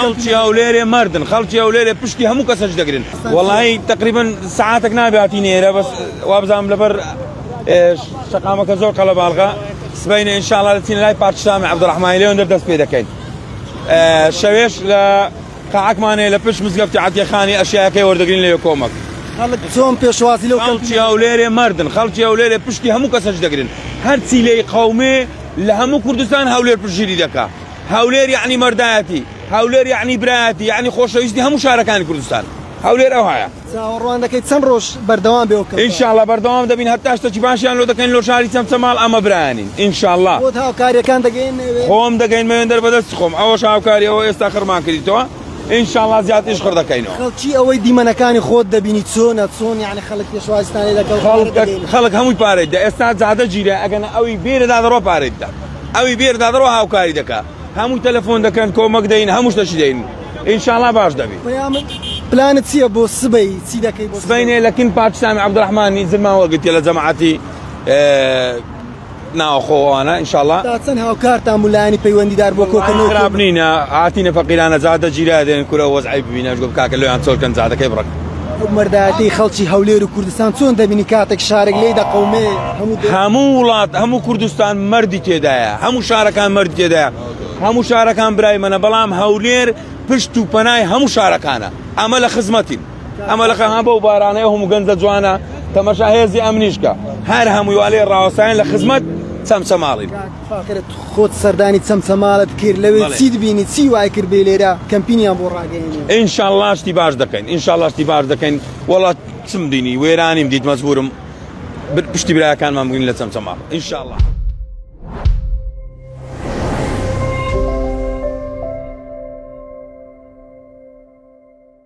خەڵکی هەولێرێ مەردن خەڵکی هەولێرێ پشتی هەموو کەسە جدەگرن وەڵی تقریبن سعاتێک نابێ هاتین ئێرە بەس وابزانام لەبەر شقامەکە زۆر قەڵە باڵغا سبینە انشاءڵ دەچین لای پارتشامی عبدڕحمانی لێون دەست پێ دەکەین شەوێش لە قاعکمانەیە لە پشت مزگەفتی عتیەخانی ئەشیاکەی وەردەگرین لە کۆمەک خەڵک چۆن پێشوازی لەو خەڵکی هەولێرێ مردن خەڵکی هەولێرێ پشتی هەموو کەسەش دەگرن هەرچی لی قومێ لە هەموو کوردستان هەولێر پشگیری دەکا هەولێر یعنی مەردایەتی هەولێر یعنی برایەتی یعنی خۆشەویستی هەموو شارەکانی کوردستان هەولێر ئەوهایە چاوەڕوان دەکەی چەند ڕۆژ بەردەوام بێ وکە ئینشاءاللە بەردەوام دەبین هەتا شتەکی باشیان لۆ دەکەین لۆ شاری چەمچەماڵ ئەمە برایانین ئینشاءاللە بۆت هاوکاریەکان دەگەین خۆم دەگەین مەوێندەر بەدەست خۆم ئەوە هاوکاری ئەوە ئێستا خڕمان کردیتەوە ئینشاءاللە زیاتریش خڕ دەکەینەوە خەڵکی ئەوەی دیمەنەکانی خۆت دەبینی چۆنە چۆن یعنی خەڵک پێشوازستانی لەگەڵ خەڵک هەمووی پارێت دە ئێستا جادە گیرە ئەگەن ئەوی بێرەدا دەڕۆ پارێت دە ئەوی بێر دادڕۆ هاوکاری دەکا هەموو تەلەفۆن دەکەن کۆمەک دەین هەموو شتەشی دەین ئینشاءاللە باش دەبی پەیامت پلانت چییە بۆ سبەی چی دەکەی بۆ سبەینێ لە کن پاکستان عبدالرحمانی زمان وەرگتیە لە جەماعەتی ناوخۆوانە ئینشاءاللە تا چەند هاوکارتان بوو لایەنی پەیوەندیدار بۆ کۆکردنەوە خراپ نینە هاتینە فەقیرانە جادە جیرا دێن کورە وەزعی ببینە گوت کاکە لۆیان چۆلکەن جادەکەی بڕەک ئەو مەردایەتەی خەڵکی هەولێر و کوردستان چۆن دەبینی کاتێک شارێک لێی دەقەومێ هەموو وڵات هەموو کوردستان مردی تێدایە هەموو شارەکان مرد تێدایە هەموو شارەکان برای منە بەڵام هەولێر پشت و پەنای هەموو شارەکانە ئەمە لە خزمەتین ئەمە لە خەها بە و بارانەیە هەموو گەنجە جوانە تەمەشا هێزی ئەمنیشکە هەر هەموویوالێ ڕاوەسایان لە خزمەت چەمچەماڵین. فاخرت خۆت سەردانی چەمچەماڵت کرد لەوێ چیت بینی چی وای کرد بێ لێرە کەمپینیان بۆ ڕاگەیەنی ئینشاءاللە شتی باش دەکەین ئینشاءاللە شتی باش دەکەین وەڵات چم دینی وێرانیم دیت مەزبورم پشتی براکانمان بووین لە چەمچەماڵ ئینشاءاللە